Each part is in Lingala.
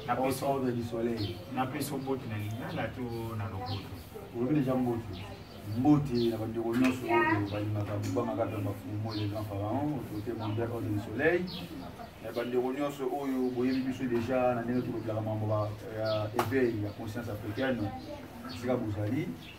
na peso na du soleil na peso mbote na lingala to na lopoto olobi deja mbote mbote na bandeko nyonso oyo balingaka bobangaka mpe bafumo le grand pharaon otote mondial ordre du soleil na bandeko nyonso oyo boyebi biso deja na ndenge tokotelaka mambo ya éveil ya conscience africaine esika bozali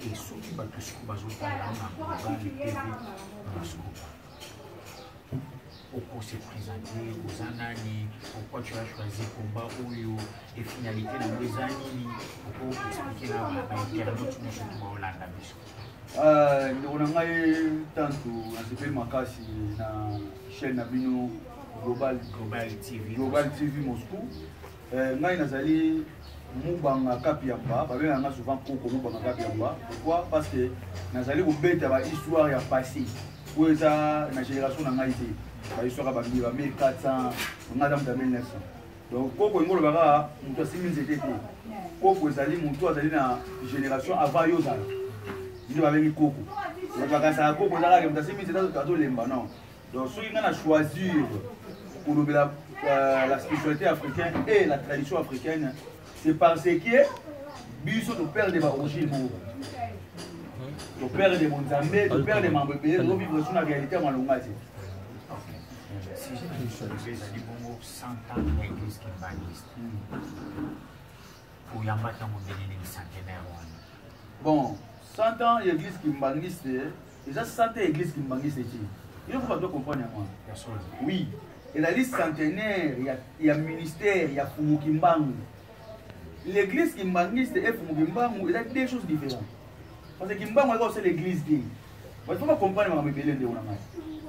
Et soki bato siko bazotala na global tv baskoba oko se présente oza nani pourquoi tu as choisi combat oyo et finalité nango eza nini oko explike na bainternaute nyonso to baolanda biso ah, ndeko na ngai tantu nasepeli makasi na chaîne na bino global global tv global tv moscou Euh, ngai nazali mubanga kapiamba babengaka nga souvent koko mubanga kapiamba pourquoi parce que nazali kobeta bahistoire ya passé oyo eza na génération na ngai te bahistoire ya bambi ba 1400 ngai aza moto ya 1900 donc koko yango olobaka moto asimbi nzete te koko ezali moto azali na génération avant yo ozala nde babengi koko bakasaka koko eza kaka moto asimbi nzete azolemba non donc soki ngai na choisir kolobela euh, la spiritualité africaine et la tradition africaine c'est parce que biso toperde baorigine moko toperde bonzambe toperde mambo ebele tozovivre so na réalité ya malonga te ezali bongo 100 ans ya eglise kimbaniste oyambaki yango ndenge nini centenaire wana bon 100 ans ya église kimbanguiste eh, eza 100 ans ya église kimbanguiste ti yo faut bato comprendre yango wana oui ezali centenaire ya, ya ministère ya fumu kimbangu l'église kimbanguiste et fumu kimbangu eza deux choses différentes parce que kimbangu ayaka osala église te Il faut comprendre makambo ebele ndeko na ngai.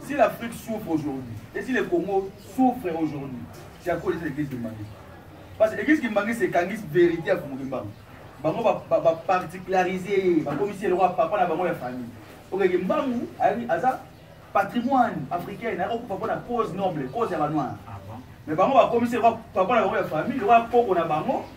Si l'Afrique souffre aujourd'hui, et si le Congo souffre aujourd'hui, c'est à cause de l'église Kimbangi. Parce que l'église Kimbangi, c'est Kangis vérité à Kumbu Kimbangu. Bango ba, ba, ba particulariser, ba commissaire le roi papa na bango ya famille. Ok, Kimbangu, aza patrimoine africain, na ko papa na cause noble, cause ya ba noir. Mais bango ba commissaire le roi papa na bango ya famille, le roi koko na bango,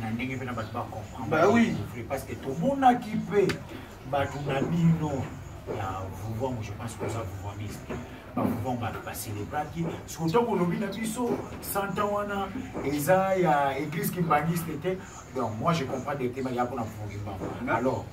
na ndenge mpe na bato bacomprendre parce que tomonaki mpe bato na bino ya vuvangu je pense koza vuvaniste bavuvang bato baselebraki siko ntango olobi na biso santa wana eza ya église kimbangiste te donc moi je comprends directement ya mpona vuvangu kimbangu alors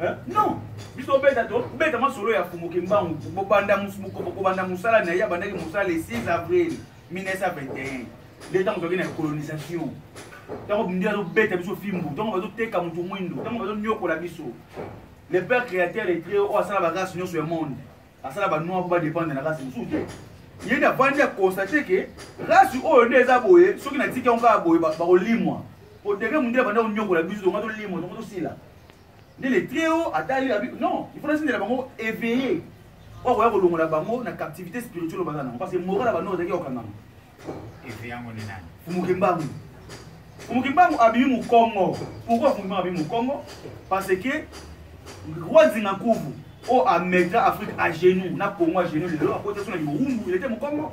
Hein? Non. biso beta to beta masolo ya fumu kimbangu bobanda kobanda mosala na ye abandaki mosala le 6 avril 1921 leta mozwaki na colonisation ntango bindi azobeta biso fimbu ntango bazoteka motu mwindo ntango bazonyokola biso le père créateur de dieu oyo asala barace nyonso ya monde asala banoir mpo badépendre na race mosusu te ye nde avandi akonstate ke race oyo nde eza boye soki natiki yango kaka boye bakolimwa mpo degre mondele banda konyokola biso tonga tolimwa tonga tosila nde le très haut ata yo abi non il faut nasindela bango éveillé oyo akoya kolongola bango na captivité spirituelle baza nango parce que moral ya banoko ezalaki okangama fumuke mbangu fumuke mbangu abimi mokongo pourkoi fumuke mbangu abimi mokongo parce que roi zinga nkuvu oyo ametra afrique à genoux na congo à genoux lelo akotaki na liwumbu elete mokongo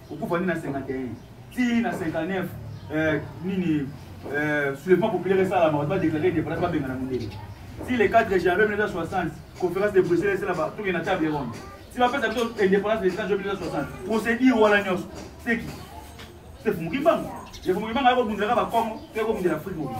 okufa nde na 51 ti na 59 eh, nini eh, soulèvement populaire esalama bato badeklare indépendance babengana mondele ti le 4 janvier 1960 conférence de bruxelles esalama tokende na table ronde ti bapesa biso indépendance le 4 janvier 1960 procédure wana nyonso seki sefumuki mbango sefumuki mbango ayakobundela ka bakongo to yakobundela afrique mobili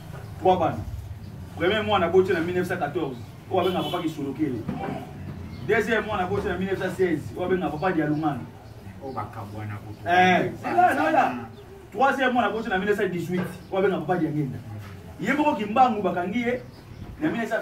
3 bana premier mwana aboti na 1914 oyo abenga papa kisolokele deuxième mwana aboti na 1916 oyo abenga papa dialungana oyo bakabwana kutuoya troisième mwana aboti na 1918 oyo abenga papa diangenda ye moko kimbangu bakangi ye na 1921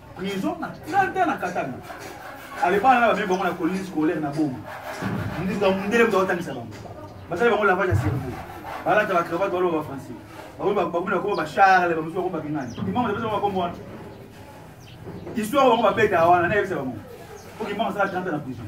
prison na 30 ans na katanga alebana na bamemi bango na colline scolaire na boma ndele moto aotangisa bango basali bango lavage ya cerveau balata bacravate baloba bafrançais bakomi bakoma bacharle bamosusu bakoma bakingani imama napesa bango bakombo wana histoire bango babeta wana nayebisa bango po kimama asala 30 na prison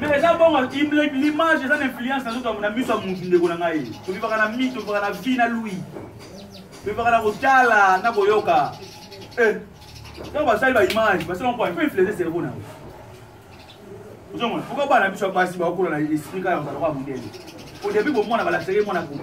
mais eza bongo l'image eza na influence nazoto na miso ya motu ndeko na ngai tobivaka na mi tobivaka na vi na lui tobivaka na kotala na koyoka eh, ntango basali baimage basala mpo mpe influence cerveau na yo ozomona pourkoi bana biso ya basi baokola na esprit kaka kozala kwa mondele au début bomwana balakisaki mwana kuna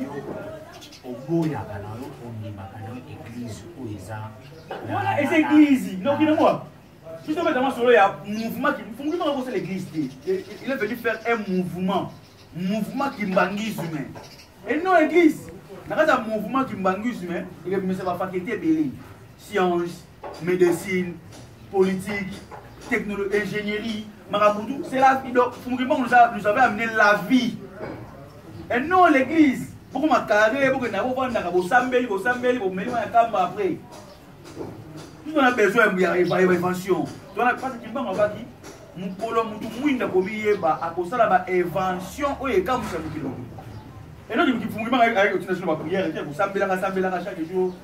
yo oboyaka na yo ondimaka na yo eglize oyo eza wana eza eglize noki nango biso obeta masolo ya mouvement kifungi maka kosala eglize te il est venu faire un mouvement mouvement kimbangisme et non eglize na kati ya mouvement kimbangisme ekebimisa bafakete ebele science medecine politique technologie ingénierie makambo tout c'est la donc fumukimbangu nous avait amené la vie et non l'église bokoma carré bokenda bofandaka bosambeli bosambeli bomeli wana kamba après biso na besoin ya évention tona pasi kimbango abaki mokolo motu mwinda komiyeba akosala baévention oyo ekamwisa mokili enoki mokifungimaka ayekotina sino baprière te kosambelaka sambelaka chaque jour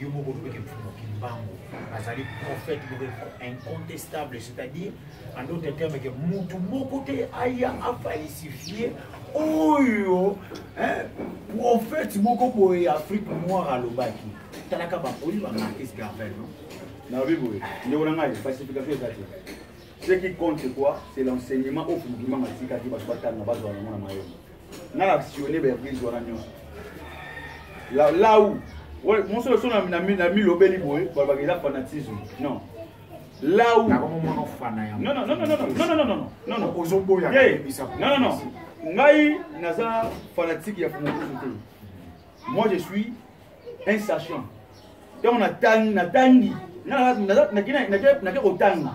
yo moko olobi ke mfumu kimbangu azali prophète moko incontestable c'est-à-dire en d'autres termes ke mutu moko te aya afalsifie oyo prophète moko boye ya afrique noire alobaki talaka bakoyi bamarkis garvel no nayobi boye ndeko na ngai falsification eza te ce qui compte quoi c'est l'enseignement oyo fumukimanga atikaki bato batanga bazwa yango na mayele nga na sione ba eglise wana nyonso lau moso loso na milobeli boye balobaka eza fanatisme non lau ngai naza fanatique ya fumokusu te moi je suis un sachant ntango natangi nakei kotanga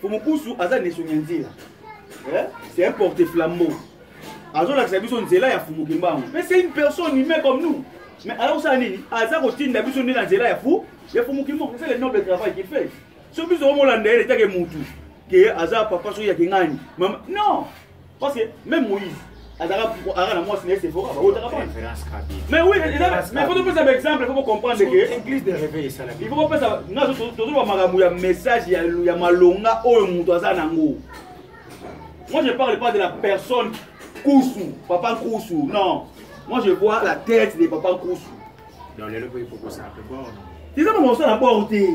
fumukusu aza nesongi ya nzela eh? c'est un porte flambeau azolakisa biso nzela ya fumu kimbangu mais c'est une personne humain comme nous mais aza kosala nini aza kotinda biso nde na nzela ya fu ya fumu kimbangu c'est le noble travail qu'il fait so biso omolanda ye letake mutu ke aza papa soki ya kingani mama non Parce que même Moïse, azalaka na mwasi na ye sefora baotaka bana mais oui mais faut topesa baexemple faut bocomprendre ke il faut bopesa tozoloba makambo ya message ya malonga oyo moto aza nango moi je parle pas de la personne kusu papa kusu non moi je vois la tête de papa kusu eza makambo osala bor te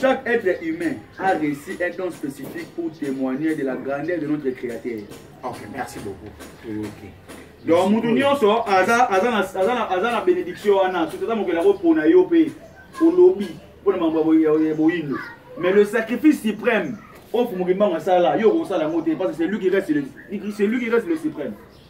Chaque être humain a reçu un don spécifique pour témoigner de la grandeur de notre Créateur. Ok, merci beaucoup. Ok. donc motu nyonso aza na bénédiction wana soki aza mokeli akopona yo mpe olobi mpo na mambo ya boyindo mais le sacrifice suprême oyo mokili mbango asala yo okosala yango te parce que c'est lui qui reste le, c'est lui qui reste le suprême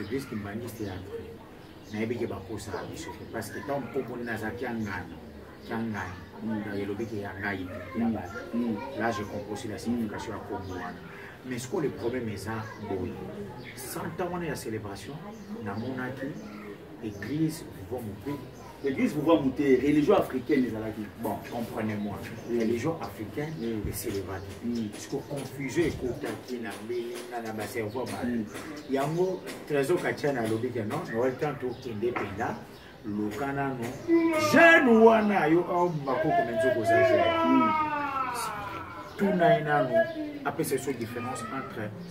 Eglise kimbanguiste ya vrai. Nayebi ke bakosa na biso te parce que tant mpopo nde naza kiangani kiangani mm. elobi ke ya ngai te ya mm. bato. Mm. Là je comprends aussi la signification ya kombo wana. Mais ce que le problème eza boye. 100 ans wana ya celebration namonaki église vivant mobile L'église vous voit monter, religion africaine les alaki. Bon, comprenez-moi. Religion africaine, mm. c'est les vagues. Mm. Parce que confusion et contacté na na na ba cerveau ba. Mm. Yango trésor kachana lobi que non, no temps to kende penda. Luka nano. Jeune wana yo au makoko menzo kozaje. Mm. Tout na inano. Après c'est sur différence entre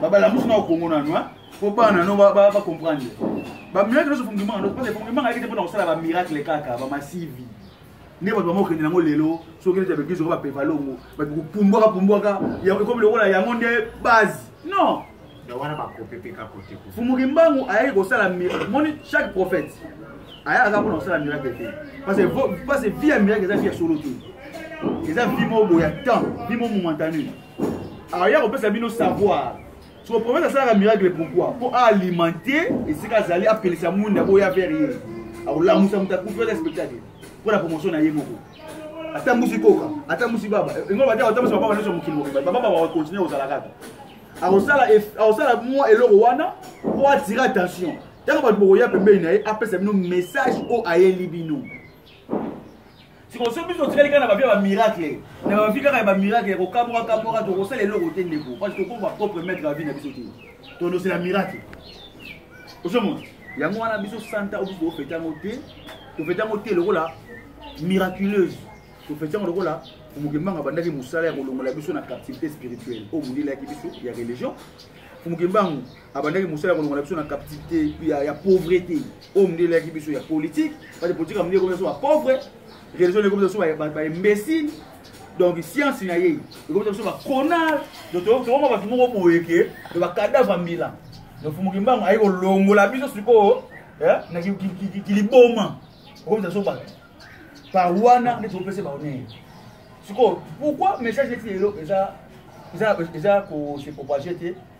babalamusu na okongo nanu mpo bana no bacomprendre bamiracle nyonso fungimanga nyonso parce fungimanga ayaki te mpona kosala bamiracle kaka bamasivi nde bato bango okende yango lelo soki okende ta baeglise oko bapepa longo bakopumbwaka pumbwaka ekomi lokola yango nde base non fumuki mbangu ayaki kosala moni chaque prophète ayaka kaka mpona kosala miracle te parce que vie ya miracle eza vie ya solo te eza vie moko boya temps vie mo momantane alors ya kopesa bino savoir so prophète asalaka miracle pourquoi mpo aalimente esika azali apelisa mwinda oyo ya vere ye akolamusa moto akufi oza spectacle mpo na promotion na ye moko atambusi koka atambusi baba engo bate atambusi bababa nyonso mokili mobimba bababa bakokontinue kozala kaka akosala mwa eloko wana mpo atire attention ntango bato bokoya pembeni na ye apesa bino message oyo ayeli bino sikoyo so biso otikali kaka na bavia bamiracle na bavi kaka ya bamiracle ya kokamwaka kamwaka tokosala eloko te ndeko parce tokoma bapropre maître ya vi na biso te tondosela miracle ozomona yango wana biso santa oyo biso tofete yango te tofete yango te lokola miraculeuse tofete yango lokola fumukembanga abandaki mosala ya kolongola biso na captivité spirituelle oyo molelaki biso ya religion fumukembangu abandaki mosala ya kolongola biso na captivité ya pauvrete oyo mondele yaki biso ya politique parce politique ya mondele ekomi biso ba pauvre religion ekomi biso ba imbécile donc science na ye ekomi biso ba conard donc tokoma bato moko boye ke to ba cadavre ya mbila donc fumuki mbango aye kolongola biso sikoyo eh, na kiliboma okomi biso bato par wana nde tokopesa baonere sikoyo pourquoi message neti lelo eza eza eza ko se propager te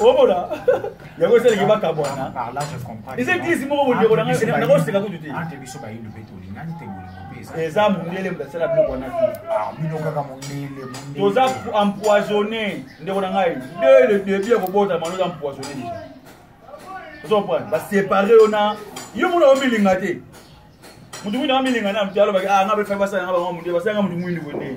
omona yango esalaki bakabwana eza eglise moko bondeko nakoseka kutu te eza mondele moto asala biloko wana te toza empoisonne ndeko na ngai de le debut ya kobotama oza empoisonne deja ozo comprendre basepare yo na yo mona omilinga te moto mwindu amilinga na moto alobaki ah nga befai basala nga bango mondele basala nga moto mwindu boye nde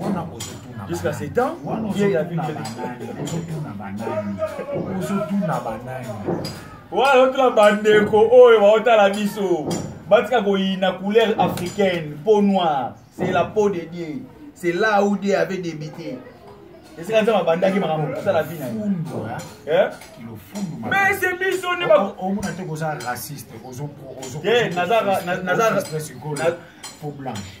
wana kozotuna jusqu'à ce temps ye ya ozotuna banani ozotuna banani wana ozotuna bandeko oyo baotala biso batika koyina couleur africaine peau noire c'est la peau de dieu c'est là où dieu avait débité esika nzambe abandaki makambo kosala vi na eh? mais se biso nde omona te koza raciste naza blanche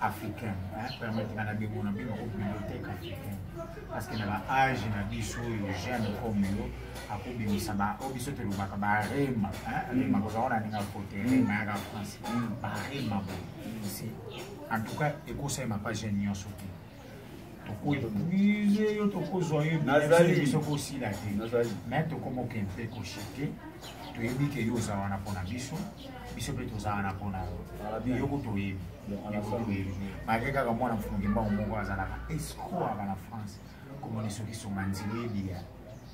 africain permettre nga nabimo na bino bibliothèque africain parce que na baage na biso oyo jeune comme yo akobimisa oyo biso tolobaka barema rema kozala wana aninga kote rema yaka france barema boye en tout cas ekosalema pa jeune nyonso te tokopuise yo tokozwa yo biso kosila te me tokomoke mpe koshike toyebi ke yo oza wana mpona biso biso mpe toza wana mpona yo yoko toyebi toyebi malgre kaka mwana mfungi mbango moko azalaka escro aka na france komona soki songa nzela ebiya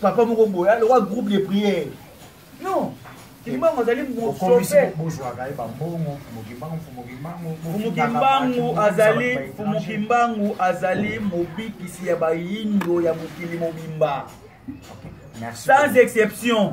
papa moko boye aloka groupe de prière non kimbangu azali mosofemokimbangu azali mokimbangu azali mobikisi ya bayindo ya mokili mobimba sans exception